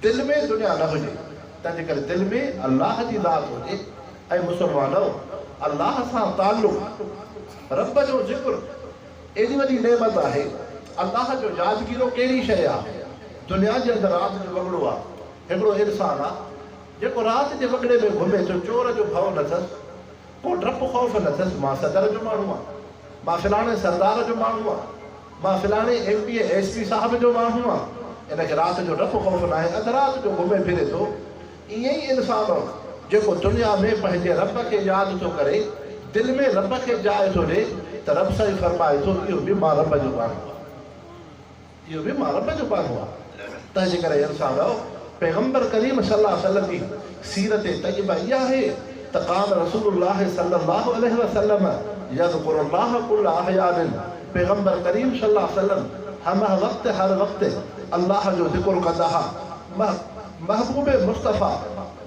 دل ۾ دنيا نه هجي تنهنجي ڪري دل ۾ الله جي ذات هجي اي مسلمانؤ الله سان تعلق رب جو ذڪر ايڏي وڏي نعمت آهي الله جو يادگيرو ڪهڙي شيء آ دنيا جي اندر رات جو وڳڙو آ هڪڙو انسان آ جيڪو رات جي وڳڙي ۾ گهمي ٿو، چور جو ڀئو نه اٿس، ڪو ڊپ خوف نه اٿس، مان صدر جو ماڻهو آهيان، مان فلاڻي سردار جو ماڻهو آهيان، مان فلاڻي M P A S P صاحب جو ماڻهو آهيان، ان کي رات جو ڊپ خوف ناهي، اڌ رات جو گهمي ڦري ٿو، ائين ئي انسان جيڪو دنيا ۾ پنهنجي رب کي ياد ٿو ڪري، دل ۾ رب کي جاء ٿو ڏي ته رب سائين فرمائي ٿو اهو به مان رب جو ماڻهو آهيان. اهو به مان رب جو پيارو آهي. تنهنجي ڪري اي انسان رؤ! پيغمبر ڪريم صلي الله عليه وسلم جي سيرت طيبه اها آهي ته ڪان رسول الله صلي الله عليه وسلم يذڪر الله ڪل احيان پيغمبر ڪريم صلي الله عليه وسلم همه وقت هر وقت الله جو ذڪر ڪندا ها. محبوب مصطفيٰ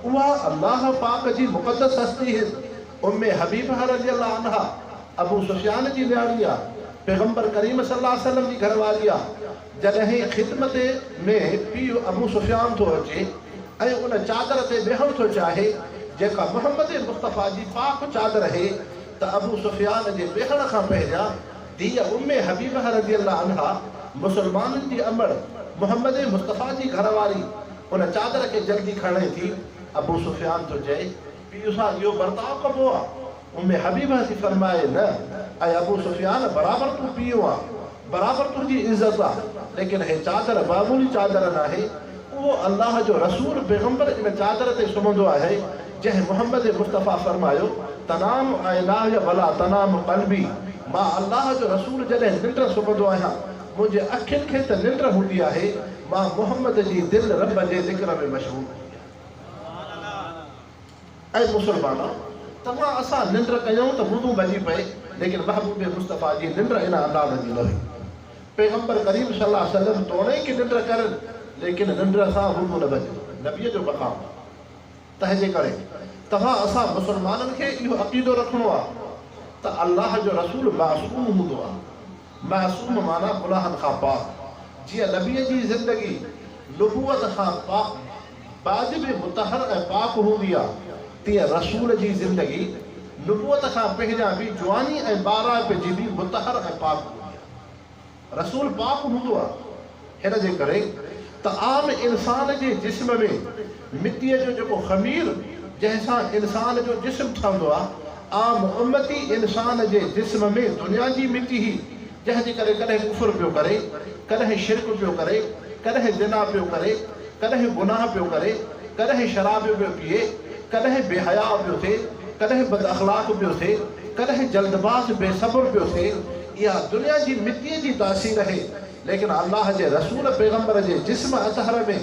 اها الله پاڪ جي مقدس هستي هن ام حبيبه رضي الله عنها ابو سفيان جي نياڻي آ، پيغمبر ڪريم صلي الله عليه وسلم جي گهر واري آ، جڏهن خدمت ۾ پيء ابو سفيان ٿو اچي ۽ ان چادر تي ويهڻ ٿو چاهي جيڪا محمد مصطفيٰ جي پاڪ چادر هي ته ابو سفيان جي ويهڻ کان پهريان ڌيء ام حبيبه رضي الله عنها مسلمانن جي امڙ محمد مصطفيٰ جي گهر واري ان چادر کي جلدي کڻي ٿي ابو سفيان ٿو چئي پيء سان اهو برتاء ڪبو آ؟ ام حبيبه ٿي فرمائي، نه اي ابو سفيان! برابر تون پيء آن، برابر تنهنجي عزت آ، ليڪن هي چادر معمولي چادر ناهي، اهو الله جو رسول پيغمبر ان چادر تي سمهندو آهي، جنهن محمد مصطفيٰ فرمايو، تنام عينايّ ولا تنام قلبي، مان الله جو رسول جڏهن ننڊ سمهندو آهيان، منهنجي اکين کي ته ننڊ هوندي آهي، مان محمد جي دل رب جي ذڪر ۾ مشغول هوندي آهي. اي مسلمانو! توهان اسان ننڊ ڪيون ته وضو ڀڄي پئي، ليڪن محبوب مصطفيٰ جي ننڊ ان انداز جي نه هئي. پيغمبر ڪريم صلي الله عليه وسلم توڻيڪ ننڊ ڪرن، ليڪن ننڊ سان وضو نه ڀڄي. نبيء جو مقام آهي. تنهنجي ڪري توهان اسان مسلمانن کي اهو عقيدو رکڻو آهي ته الله جو رسول معصوم هوندو آهي. معصوم معنيٰ گناهن کان پاڪ، جيئن نبيء جي زندگي نبوت کان پا بعد به مطهر ۽ پاڪ هوندي آ، تيئن رسول جي زندگي نبوت کان پهريان به جواني ۽ ٻاراڻپ جي به مطهر ۽ پاڪ هوندي آ. رسول پاڪ هوندو آ. ان جي ڪري ته عام انسان جي جسم ۾ مٽيء جو جيڪو خمير جنهن سان انسان جو جسم ٺهندو آهي، عام امتي انسان جي جسم ۾ دنيا جي مٽي هئي، جنهن جي ڪري ڪڏهن ڪفر پيو ڪري، ڪڏهن شرڪ پيو ڪري، ڪڏهن زنا پيو ڪري، ڪڏهن گناهه پيو ڪري، ڪڏهن شراب پيو پيئي، ڪڏهن بي حياء پيو ٿئي، ڪڏهن بد اخلاق پيو ٿئي، ڪڏهن جلدباز بي صبر پيو ٿئي، اها دنيا جي مٽيء جي تاثير هي، ليڪن الله جي رسول پيغمبر جي جسم اطهر ۾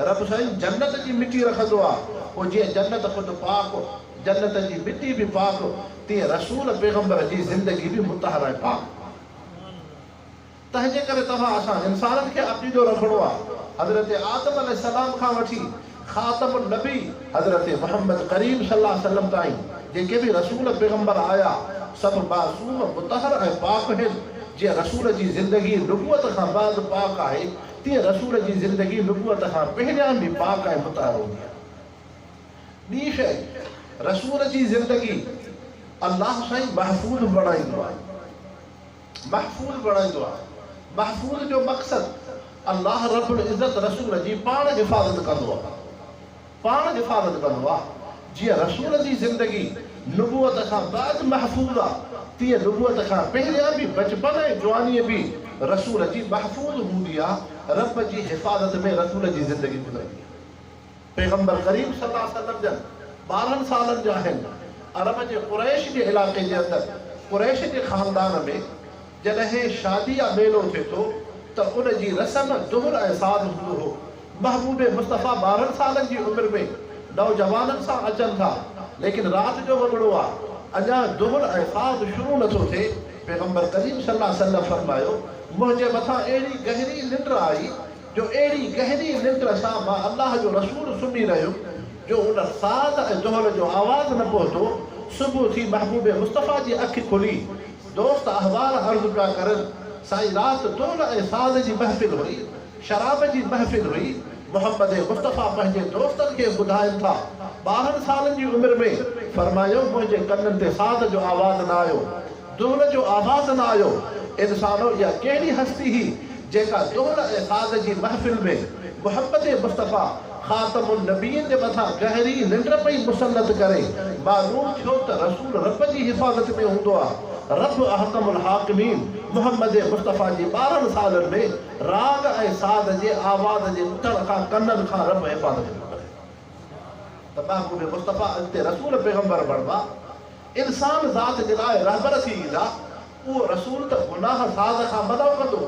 رب سائين جنت جي مٽي رکندو آ پوء جيئن جنت خود پاڪ جنت جي مٽي به پاڪ تيئن رسول پيغمبر جي زندگي به مطهر ۽ پاڪ تنهنجي ڪري توهان اسان انسانن کي عقيدو رکڻو آ حضرت آدم عليه السلام کان وٺي خاتم النبي حضرت محمد ڪريم صلي الله عليه وسلم تائين جيڪي به رسول پيغمبر آيا سڀ معصوم، مطهر ۽ پاڪ هن، جيئن رسول جي زندگي نبوت کان بعد پاڪ آهي تيئن رسول جي زندگي نبوت کان پهريان به پاڪ ۽ مطهر هوندي آهي. ٻي شيء رسول جي زندگي الله سائين محفوظ بڻائيندو آهي. محفوظ بڻائيندو آهي. محفوظ جو مقصد الله رب العزت رسول جي پاڻ حفاظت ڪندو آهي. پاڻ حفاظت ڪندو آهي. جيئن رسول جي زندگي نبوت کان بعد محفوظ آهي تيئن نبوت کان پهريان به بچپن ۽ جواني به رسول جي محفوظ هوندي آهي. رب جي حفاظت ۾ رسول جي زندگي گذرندي آهي. پيغمبر ڪريم صلي الله عليه وسلم جن ٻارهن سالن جا آهن. عرب جي قريش جي علائقي جي اندر قريش جي خاندان ۾ جڏهن شادي يا ميلو ٿئي ٿو ته ان جي رسم دهر ۽ ساز هوندو هو. محبوب مصطفيٰ ٻارهن سالن جي عمر ۾ نوجوانن سان اچن ٿا ليڪن رات جو وڳڙو آ اڃا دهر ۽ ساز شروع نه ٿو ٿئي پيغمبر ڪريم صلي الله عليه وسلم فرمايو منهنجي مٿان اهڙي گهري ننڊ آئي جو اهڙي گهري ننڊ سان مان الله جو رسول سمهي رهيم جو ان ساز ۽ دهل جو آواز نه پهتو، صبح ٿي محبوب مصطفيٰ جي اک کلي، دوست احوال عرض پيا ڪرن، سائين رات دهل ۽ ساز جي محفل هئي، شراب جي محفل هئي، محمد مصطفيٰ پنهنجي دوستن کي ٻڌائن ٿا، ٻارهن سالن جي عمر ۾، فرمايو منهنجي ڪنن تي ساز جو آواز نه آيو، دهل جو آواز نه آيو. انسانو اها ڪهڙي هستي هئي جيڪا دهل ۽ ساز جي محفل ۾ محمد مصطفيٰ خاتم النبين جي مٿان گهري ننڊ پئي مسلط ڪري. معلوم ٿيو ته رسول رب جي حفاظت ۾ هوندو آ. رب احڪم الحاڪمين محمد مصطفيٰ جي ٻارهن سالن ۾ راڳ ۽ ساز جي آواز جي ٻڌڻ کان ڪنن کان رب حفاظت پيو ڪري ته محبوب مصطفيٰ اڳتي رسول پيغمبر بڻبا. انسان ذات جي لاء رهبر ٿي ايندا، اهو رسول ته گناهه ساز کان منع ڪندو،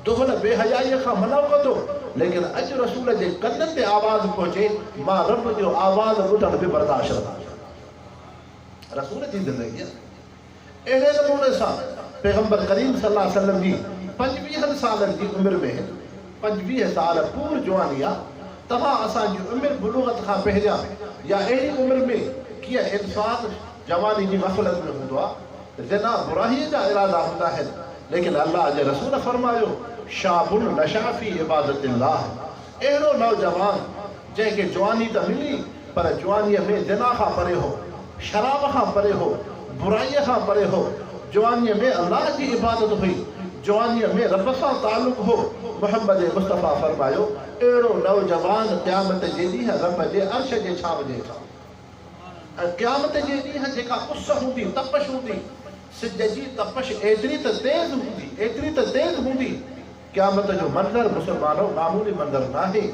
دخل بي حيائيء کان منع ڪندو، ليڪن اڄ رسول جي ڪنن تي آواز پهچي، مان رب جو آواز ٻڌڻ به برداشت نه ڪندو. رسول جي زندگيء اهڙي نموني سان پيغمبر ڪريم صلي الله عليه وسلم جي پنجويهن سالن جي عمر ۾، پنجويهه سال پور جواني آ توهان اسان جي عمر بلوغت کان پهريان يا اهڙي عمر ۾ ڪيئن انسان جواني جي غفلت ۾ هوندو آ زنا برائي جا ارادا هوندا آهن ليڪن الله جي رسول فرمايو شاب نشا في عبادت الله اهڙو نوجوان جنهن کي جواني ته ملي پر جوانيء ۾ زنا کان پري هو، شراب کان پري هو، برائيء کان پري هو، جوانيء ۾ الله جي عبادت هئي، جوانيء ۾ رب سان تعلق هو، محمد مصطفيٰ فرمايو، اهڙو نوجوان قيامت جي ڏينهن رب جي عرش جي ڇانو جي هيٺان هوندو ۽ قيامت جي ڏينهن جيڪا اس هوندي، تپش هوندي، سج جي تپش ايتري ته تيز هوندي، ايتري ته تيز هوندي، قيامت جو منظر مسلمانو معمولي منظر ناهي.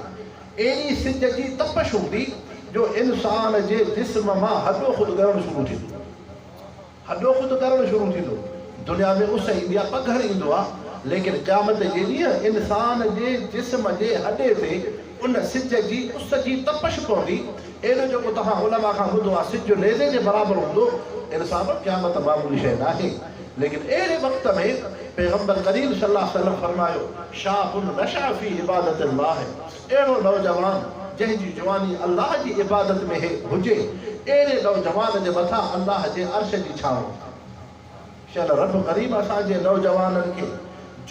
ايڏي سج جي تپش هوندي جو انسان جي جسم مان هڏو خود ڳرڻ شروع ٿيندو. هڏو خود ڳرڻ شروع ٿيندو. دنيا ۾ اس ايندي آهي، پگهر ايندو آهي ليڪن قيامت جي ڏينهن انسان جي جسم جي هڏي تي ان سج جي اس جي تپش پوندي. ايڏو جيڪو توهان علماء کان ٻڌو آهي سج نيزي جي برابر هوندو. انسانو قيامت معمولي شيء ناهي. ليڪن اهڙي وقت ۾ پيغمبر ڪريم صلي الله عليه وسلم فرمايو، شاب نشع في عبادت الله اهڙو نوجوان جنهن جي جواني الله جي عبادت ۾ هي هجي اهڙي نوجوان جي مٿان الله جي عرش جي ڇانو هوندي. شل رب ڪريم اسان جي نوجوانن کي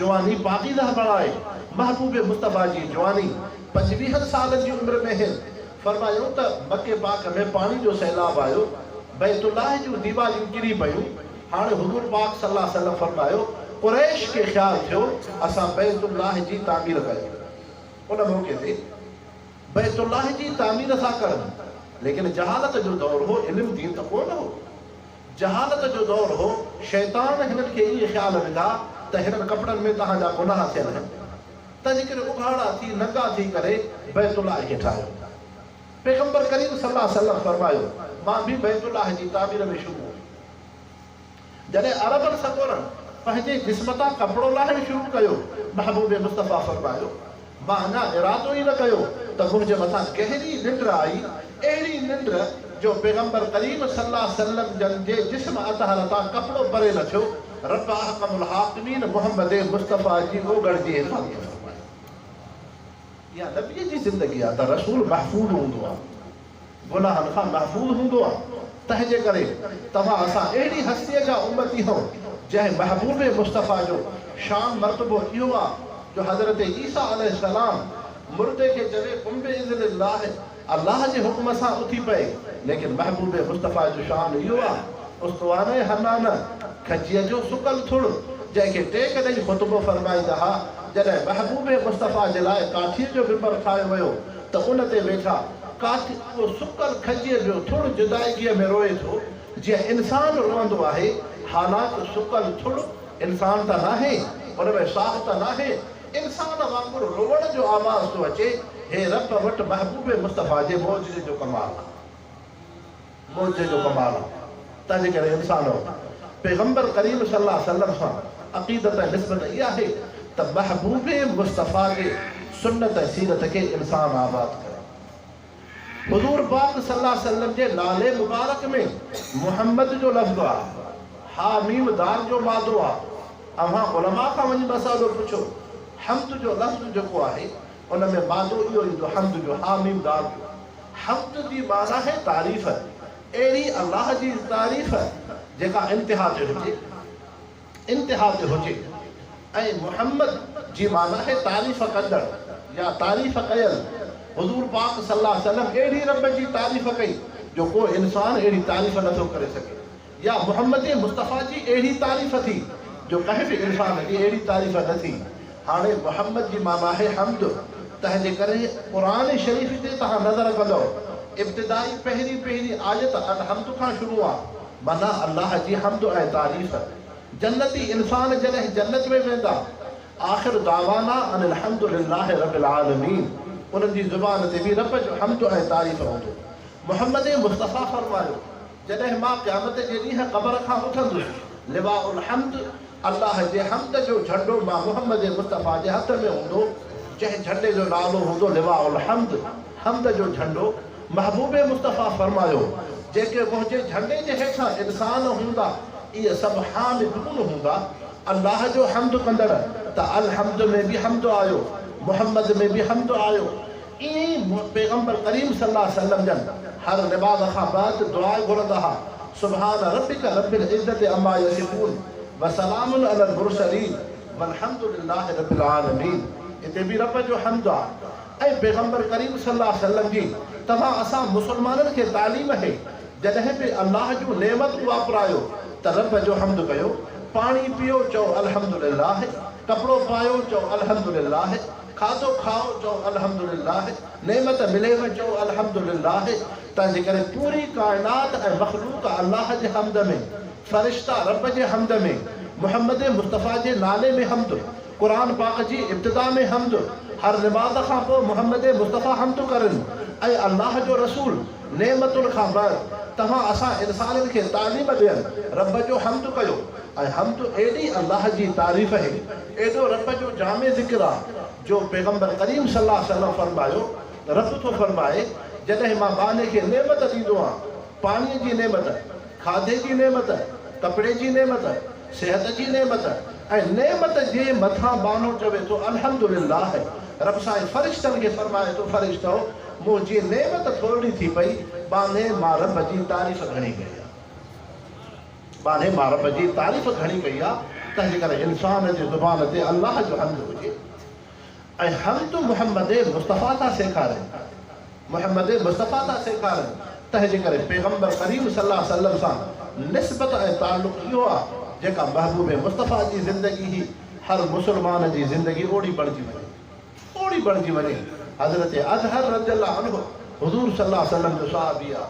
جواني پاڪيزه بڻائي محبوب مصطفيٰ جي جواني پنجويهن سالن جي عمر ۾ هين فرمايائون ته مڪي پاڪ ۾ پاڻي جو سيلاب آيو بيت الله جون ديواريون ڪري پيون هاڻ حضور پاڪ صلي الله عليه وسلم فرمايو، قريش کي خيال ٿيو اسان بيت الله جي تعمير ڪيون ان موقعي تي بيت الله جي تعمير ٿا ڪرن ليڪن جهالت جو دور هو علم دين ته ڪو نه هو جهالت جو دور هو شيطان هنن کي ائين خيال وڌا ته هنن ڪپڙن ۾ تهان جا گناهه ٿيل آهن تنهنجي ڪري اگهاڙا ٿي ننگا ٿي ڪري بيت الله کي ٺاهيو پيغمبر ڪريم صلي الله عليه وسلم فرمايو مان به بيت الله جي تعمير ۾ شروع جڏهن عربن سڳورن پنهنجي جسم تان ڪپڙو لاهڻ شروع ڪيو، محبوب مصطفيٰ فرمايو، مان اڃا ارادو ئي نه ڪيو ته منهنجي مٿان گهري ننڊ آئي، اهڙي ننڊ جو پيغمبر ڪريم صلّي اللّٰه عليه وسلّم جن جي جسم اطهر تان ڪپڙو پري نه ٿيو، ربّ احڪم الحاڪمين محمّد مصطفيٰ جي اوڳڙ جي حفاظت فرمائي. اها نبيء جي زندگي آهي ته رسول محفوظ هوندو آهي. گناهن کان محفوظ هوندو آهي، تنهنجي ڪري توهان اسان اهڙي هستيء جا امتي هئو، جنهن محبوب مصطفيٰ جو شان مرتبو اهو آهي جو حضرت عيسيٰ عليه السلام مردي کي چوي قم باذن الله، الله جي حڪم سان اٿي پئي، ليڪن محبوب مصطفيٰ جو شان اهو آهي، استوانه حنانه، کجيء جو سڪل ٿڙ، جنهن کي ٽيڪ ڏئي خطبو فرمائيندا ها، جڏهن محبوب مصطفيٰ جي لاء ڪاٺيء جو ممبر ٺاهيو ويو ته ان تي ويٺا، قاتل اهو سڪل کجيء جو ٿڙ جدائگيء ۾ روئي ٿو، جيئن انسان روئندو آهي، حالانڪ سڪل ٿڙ انسان ته ناهي، ان ۾ ساهه ته ناهي، انسان وانگر روئڻ جو آواز ٿو اچي، هي رب وٽ محبوب مصطفيٰ جي معجزي جو ڪمال آهي. معجزي جو ڪمال آهي ته جيڪڏهن انسان پيغمبر ڪريم صلي الله عليه وسلم سان عقيدت ۽ نسبت اها آهي ته محبوب مصطفيٰ جي سنت ۽ سيرت کي انسان آباد ڪري حضور پاڪ صلي الله عليه وسلم جي نالي مبارڪ ۾ محمد جو لفظ آهي حا ميم دال جو مادو آهي اوهان علماء کان وڃي مسئلو پڇو حمد جو لفظ جيڪو آهي ان ۾ مادو اهو ايندو حمد جو، حا ميم دال جو. حمد جي معنيٰ آهي تعريف، اهڙي الله جي تعريف جيڪا انتها تي هجي، انتها تي هجي ۽ محمد جي معنيٰ آهي تعريف ڪندڙ يا تعريف ڪيل، حضور پاڪ صلي الله عليه وسلم اهڙي رب جي تعريف ڪئي جو ڪو انسان اهڙي تعريف نٿو ڪري سگهي. يا محمدي مصطفيٰ جي اهڙي تعريف ٿي، جو ڪنهن به انسان جي اهڙي تعريف نه ٿي. هاڻي محمد جي معنيٰ آهي حمد، تنهنجي ڪري قرآن شريف تي توهان نظر ڪندؤ، ابتدائي پهرين پهرين آيت الحمد کان شروع آ، معنيٰ الله جي حمد ۽ تعريف. جنتي انسان جڏهن جنت ۾ ويندا، آخر دعوانا ان الحمد لله رب العالمين، انهن جي زبان تي به رب جو حمد ۽ تعريف هوندو. محمدي مصطفيٰ فرمايو، جڏهن مان قيامت جي ڏينهن قبر کان اٿندس، لواء الحمد، الله جي حمد جو جهنڊو مان محمد مصطفيٰ جي هٿ ۾ هوندو، جنهن جهنڊي جو نالو هوندو لواء الحمد، حمد جو جهنڊو، محبوب مصطفيٰ فرمايو، جيڪي منهنجي جهنڊي جي هيٺان انسان هوندا، اهي سڀ حامدون هوندا، الله جو حمد ڪندڙ، ته الحمد ۾ به حمد آيو، محمد ۾ به حمد آيو، ائين ئي پيغمبر ڪريم صلي الله عليه وسلم جن هر نماز کان بعد دعا گهرندا ها، سبحان ربک رب العزة عما يصفون وسلام علي المرسلين والحمد لله رب العالمين هتي به رب جو حمد آ ۽ پيغمبر ڪريم صلي الله عليه وسلم جي توهان اسان مسلمانن کي تعليم اهي جڏهن به الله جون نعمتون واپرايو ته رب جو حمد ڪيو پاڻي پيئو چئو الحمد لله ڪپڙو پايو چئو الحمد لله کاڌو کائو چئو الحمدلله، نعمت مليوه چئو الحمدلله، تنهنجي ڪري پوري ڪائنات ۽ مخلوق الله جي حمد ۾، فرشتا رب جي حمد ۾، محمد مصطفيٰ جي نالي ۾ حمد، قرآن پاڪ جي ابتدا ۾ حمد، هر نماز کان پوء محمد مصطفيٰ حمد ڪرن ۽ الله جو رسول نعمتن کان بعد توهان اسان انسانن کي تعليم ڏيڻ رب جو حمد ڪيو ۽ حمد ايڏي الله جي تعريف هي ايڏو رب جو جامع ذڪر آ جو پيغمبر ڪريم صلي الله عليه وسلم فرمايو، رب ٿو فرمائي، جڏهن مان ٻانهي کي نعمت ڏيندو آهيان، پاڻيء جي نعمت، کاڌي جي نعمت، ڪپڙي جي نعمت، صحت جي نعمت ۽ نعمت جي مٿان ٻانهو چوي ٿو الحمدلله، رب سائين فرشتن کي فرمائي ٿو، فرشتؤ! منهنجي نعمت ٿورڙي ٿي پئي، ٻانهي مان رب جي تعريف گهڻي ڪئي آ. ٻارهين مارب جي تعريف گهڻي ڪئي آهي، تنهنجي ڪري انسان جي زبان تي الله جو حمد هجي ۽ حمد محمد مصطفيٰ ٿا سيکارين، محمد مصطفيٰ ٿا سيکارين، تنهنجي ڪري پيغمبر ڪريم صلي الله عليه وسلم سان نسبت ۽ تعلق اهو آهي، جيڪا محبوب مصطفيٰ جي زندگي هي، هر مسلمان جي زندگي اوڙي بڻجي وڃي، اوڙي بڻجي وڃي، حضرت اطهر رضي الله عنه حضور صلي الله عليه وسلم جو صحابي آهي،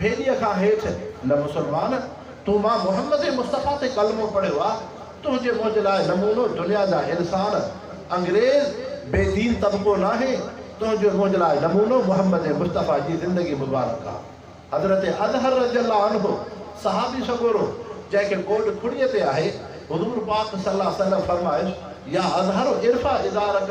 ڀيليء کان هيٺ نه مسلمان، تون مان محمد مصطفيٰ تي ڪلمو پڙهيو آ، تنهنجي منهنجي لاء نمونو دنيا جا انسان، انگريز، بي دين طبقو ناهي، تنهنجي منهنجي لاء نمونو محمد مصطفيٰ جي زندگي مبارڪ آ. حضرت اظهر رضي الله عنه صحابي سڳورو جنهن کي ٻوڏ کڙيء تي آهي، حضور پاڪ صلي الله عليه وسلم فرمايس، يا اظهر ارفع ازارڪ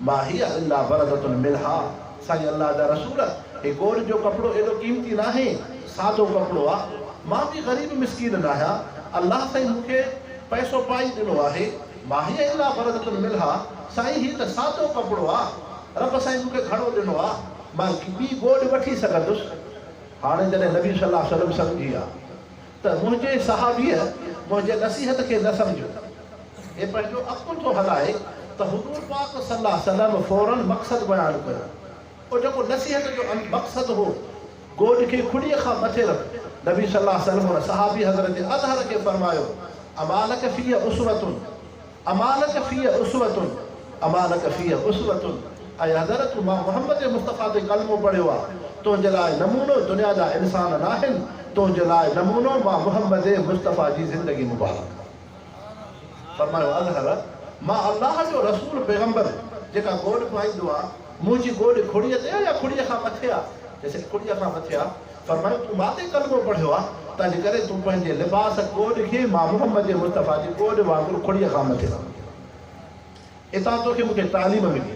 ما هي الا برده منها، سائين الله جا رسول هي ڳوڙهه جو ڪپڙو ايڏو قيمتي ناهي، سادو ڪپڙو آ، مان به غريب مسڪين ناهيان، الله سائين مون کي پئسو پائي ڏنو آهي، ما هي الا برده منها، سائين هي ته سادو ڪپڙو آ، رب سائين مون کي گهڻو ڏنو آ، مان ٻي ڳوڙهه وٺي سگهندس. هاڻي جڏهن نبي صلي الله عليه وسلم سمجهي ويا ته منهنجي صحابيء منهنجي نصيحت کي نه سمجهيو، هي پنهنجو عقل ٿو هلائي ته حضور پاڪ صلي الله عليه وسلم فوراً مقصد بيان ڪيو، او جيڪو نصيحت جو مقصد هو، گوڏ کي کڏيء کان مٿي رک، نبي صلي الله عليه وسلم ان صحابي حضرت اظهر کي فرمايو، امالک فيه اسوة؟ اما لک فيه اسوة اما لک فيه اسوة ۽ حضرت مان محمد مصطفيٰ تي ڪلمو پڙهيو آ تنهنجي لاء نمونو دنيا جا انسان ناهن تنهنجي لاء نمونو مان محمد مصطفيٰ جي زندگي مبارڪ فرمايو اظهر مان الله جو رسول پيغمبر جيڪا گوڏ پائيندو آ منهنجي گوڏ کڙيء تي آ يا کڙيء کان مٿي آ چيسين کڙيء کان مٿي آ فرمايو تون ماتي ڪلمو پڙهيو آ تنهنجي ڪري تون پنهنجي لباس ڪوڏ کي مان محمد مصطفيٰ جي ڪوڏ وانگر کڙيء کان مٿي رکندو آهيان. اتان توکي مون کي تعليم ملي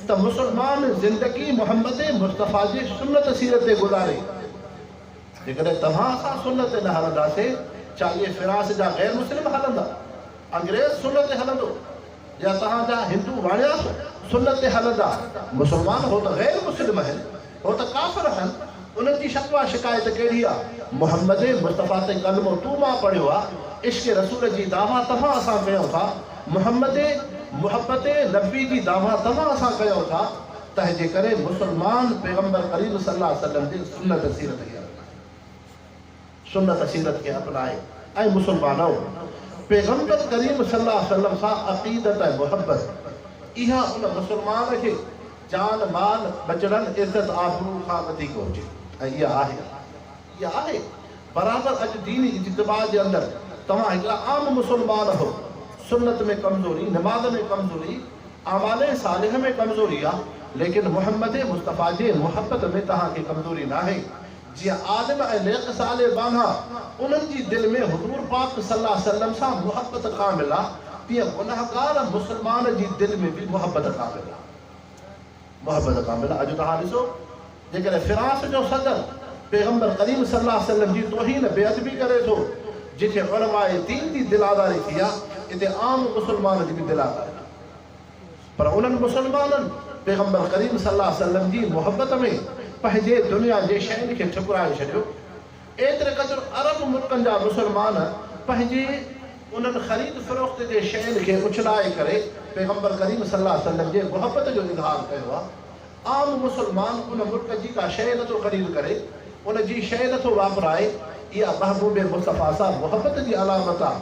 ته مسلمان زندگي محمد مصطفيٰ جي سنت سيرت تي گذاري. جيڪڏهن توهان اسان سنت تي نه هلنداسين ڇا اهي فراس جا غير مسلم هلندا؟ انگريز سنت تي هلندو جي اسان جا هندو واڻيا سنت تي هلندا مسلمان هو ته غير مسلم اهن هو ته ڪافر اهن انهن جي شڪوه شڪايت ڪهڙي آ محمد مصطفيٰ تي ڪلمو تو مان پڙهيو آ عشق رسول جي دعويٰ توهان اسان ڪيون ٿا محمد محبت نبي جي دعويٰ توهان اسان ڪيون ٿا تنهنجي ڪري مسلمان پيغمبر ڪريم صلي الله عليه وسلم جي سنت سيرت کي هلندا. سنت سيرت کي اپنائي ۽ مسلمانؤ! پيغمبر ڪريم صلي الله عليه وسلم سان عقيدت ۽ محبت اها ان مسلمان کي جان مال، ٻچڙن، عزت آبرو کان وڌيڪ هجي ۽ اها آهي اها آهي برابر اڄ ديني اجتماع جي اندر توهان هڪڙا عام مسلمان هو سنت ۾ ڪمزوري، نماز ۾ ڪمزوري، اعمال صالحه ۾ ڪمزوري آ ليڪن محمد مصطفيٰ جي محبت ۾ توهان کي ڪمزوري ناهي جيئن عالم ۽ نيڪ صالح ٻانها انهن جي دل ۾ حضور پاڪ صلي الله عليه وسلم سان محبت ڪامل آ تيئن گنهگار مسلمان جي دل ۾ به محبت ڪامل آ محبت ڪامل آ اڄ توهان ڏسو جيڪڏهن فرانس جو صدر پيغمبر ڪريم صلي الله عليه وسلم جي توهين بي ادبي ڪري ٿو جتي علماء دين جي دل آزاري ٿي آ اتي عام مسلمان جي به دل آزاري پر انهن مسلمانن پيغمبر ڪريم صلي الله عليه وسلم جي محبت ۾ پنهنجي دنيا جي شين کي ٺڪرائي ڇڏيو. ايتري قدر عرب ملڪن جا مسلمان پنهنجي انهن خريد فروخت جي شين کي اڇلائي ڪري پيغمبر ڪريم صلي الله عليه وسلم جي محبت جو اظهار ڪيو آهي. عام مسلمان ان ملڪ جي ڪا شيء نٿو خريد ڪري، ان جي شيء نٿو واپرائي، اها محبوب مصطفيٰ سان محبت جي علامت آهي.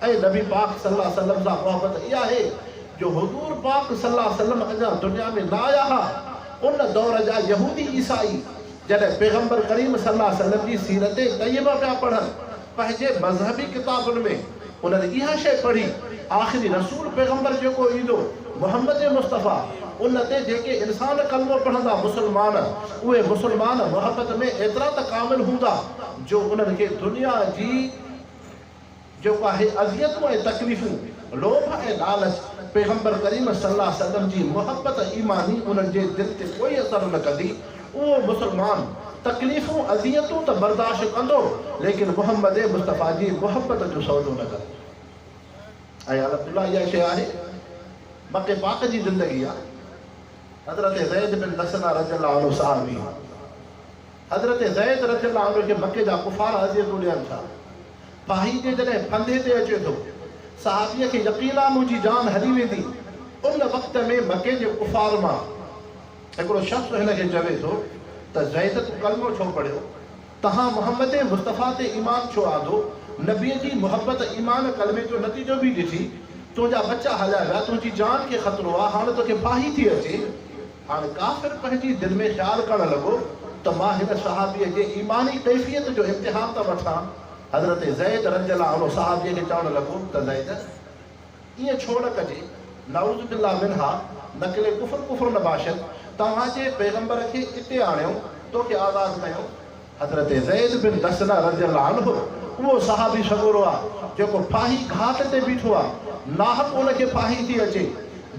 ۽ نبي پاڪ صلي الله عليه وسلم سان محبت اها آهي جو حضور پاڪ صلي الله عليه وسلم اڃا دنيا ۾ نه آيا ها ان دور جا يهودي عيسائي جڏهن پيغمبر ڪريم صلي الله عليه وسلم جي سيرت طيبه پيا پڙهن پنهنجي مذهبي ڪتابن ۾ انهن اها شيء پڙهي آخري رسول پيغمبر جيڪو ايندو محمد مصطفيٰ ان تي جيڪي انسان ڪلمو پڙهندا مسلمان اهي مسلمان محبت ۾ ايترا ته ڪامل هوندا جو انهن کي دنيا جي جيڪو اهي اذيتون ۽ تڪليفون، لوڀ ۽ لالچ، پيغمبر ڪريم صلي الله عليه وسلم جي محبت ايماني انهن جي دل تي ڪوئي اثر نه ڪندي، اهو مسلمان تڪليفون اذيتون ته برداشت ڪندو ليڪن محمد مصطفيٰ جي محبت جو سودو نه ڪندو. اهي الحمد الله اها شيء آهي مڪي پاڪ جي زندگي آ حضرت زيد بن دثنه رضي الله عنه صحابي. حضرت زيد رضي الله عنه کي مڪي جا ڪفار اذيتون ڏين ٿا. پاهي جي جڏهن ڦندي تي اچي ٿو، صحابيء کي يقين آ منهنجي جان هلي ويندي، ان وقت ۾ مڪي جي ڪفار مان هڪڙو شخص هن کي چوي ٿو ته زيد تون ڪلمو ڇو پڙهيو؟ تنهان محمد مصطفيٰ تي ايمان ڇو آندو؟ نبيء جي محبت ايمان ڪلمي جو نتيجو به ڏٺي، تنهنجا ٻچا هليا ويا، تنهنجي جان کي خطرو آ، هاڻ توکي پاهي ٿي اچي. هاڻ ڪافر پنهنجي دل ۾ خيال ڪرڻ لڳو ته مان هن صحابيء جي ايماني ڪيفيت جو امتحان ٿا وٺان. حضرت زيد رضي الله عنه صحابيء کي چوڻ لڳو ته زيد! ائين ڇو نه ڪجي، نعوذ بالله منها، نقل ڪفر ڪفر نباشد، توهان جي پيغمبر کي اتي آڻيون، تو کي آزاد ڪيون، حضرت زيد بن دثنه رضي الله عنه اهو صحابي سڳورو آ جيڪو ڦاهي گهاٽ تي بيٺو آ، ناحق ان کي ڦاهي ٿي اچي،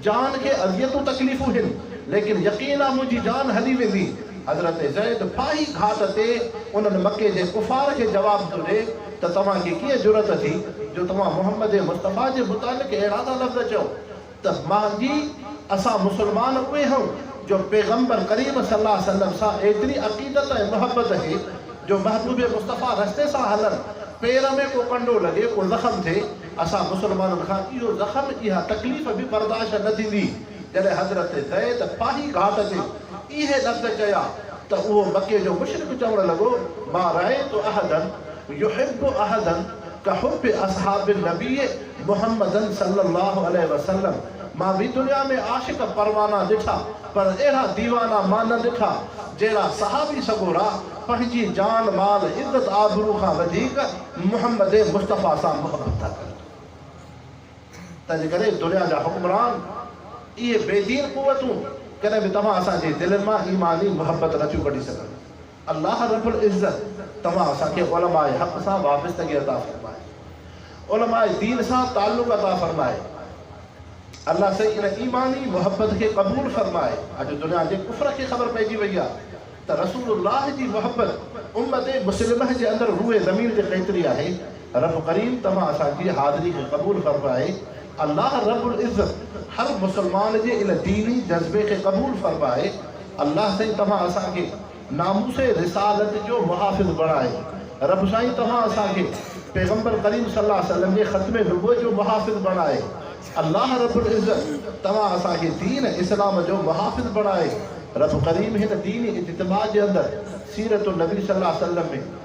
جان کي اذيتون تڪليفون هن، ليڪن يقين آ منهنجي جان هلي ويندي، حضرت زيد ڦاهي گهاٽ تي انهن مڪي جي ڪفار کي جواب ٿو ڏي ته توهان کي ڪيئن جرئت ٿي جو توهان محمد مصطفيٰ جي متعلق اهڙا ٿا لفظ چئو. تس، ماضي، اسان مسلمان اهي هئون جو پيغمبر ڪريم صلي الله عليه وسلم سان ايتري عقيدت ۽ محبت هي جو محبوب مصطفيٰ رستي سان هلن پير ۾ ڪو ڪنڊو لڳي، ڪو زخم ٿئي، اسان مسلمانن کان اهو زخم، اها تڪليف به برداشت نه ٿيندي. جڏهن حضرت زيد ڦاهي گهاٽ تي اهي لفظ چيا ته اهو مڪي جو مشرڪ چوڻ لڳو، ما رأيت احدا يحب احدا ڪحب اصحاب النبيّ، محمدن صلّي اللّٰه عليه وسلّم مان به دنيا ۾ عاشق پروانا ڏٺا پر اهڙا ديوانا مان نه ڏٺا جهڙا صحابي سڳورا پنهنجي جان مال عزت آبرو کان وڌيڪ محمّد مصطفٰي سان محبّت ٿا ڪن تنهنجڪري دنيا جا حڪمران اهي بي دين قوتون ڪڏهن به توهان اسان جي دلين مان ايماني محبّت نه ٿيون ڪڍي سگهن. الله رب العزت توهان اسان کي علماء حق سان وابستگي عطا فرمائي. علماء دين سان تعلق عطا فرمائي. الله سائين ان ايماني محبت کي قبول فرمائي. اڄ دنيا جي ڪفر کي خبر پئجي وئي آ ته رسول الله جي محبت امت مسلمه جي اندر روئي زمين تي ڪيتري آهي. رب ڪريم توهان اسان جي حاضري کي قبول فرمائي الله رب العزت هر مسلمان جي ان ديني جذبي کي قبول فرمائي الله سائين توهان اسان کي ناموس رسالت جو محافظ بڻائي رب سائين توهان اسان کي پيغمبر ڪريم صلي الله عليه وسلم جي ختم نبوت جو محافظ بڻائي الله رب العزت توهان اسان کي دين اسلام جو محافظ بڻائي رب ڪريم هن ديني اجتماع جي اندر سيرت النبي صلي الله عليه وسلم ۾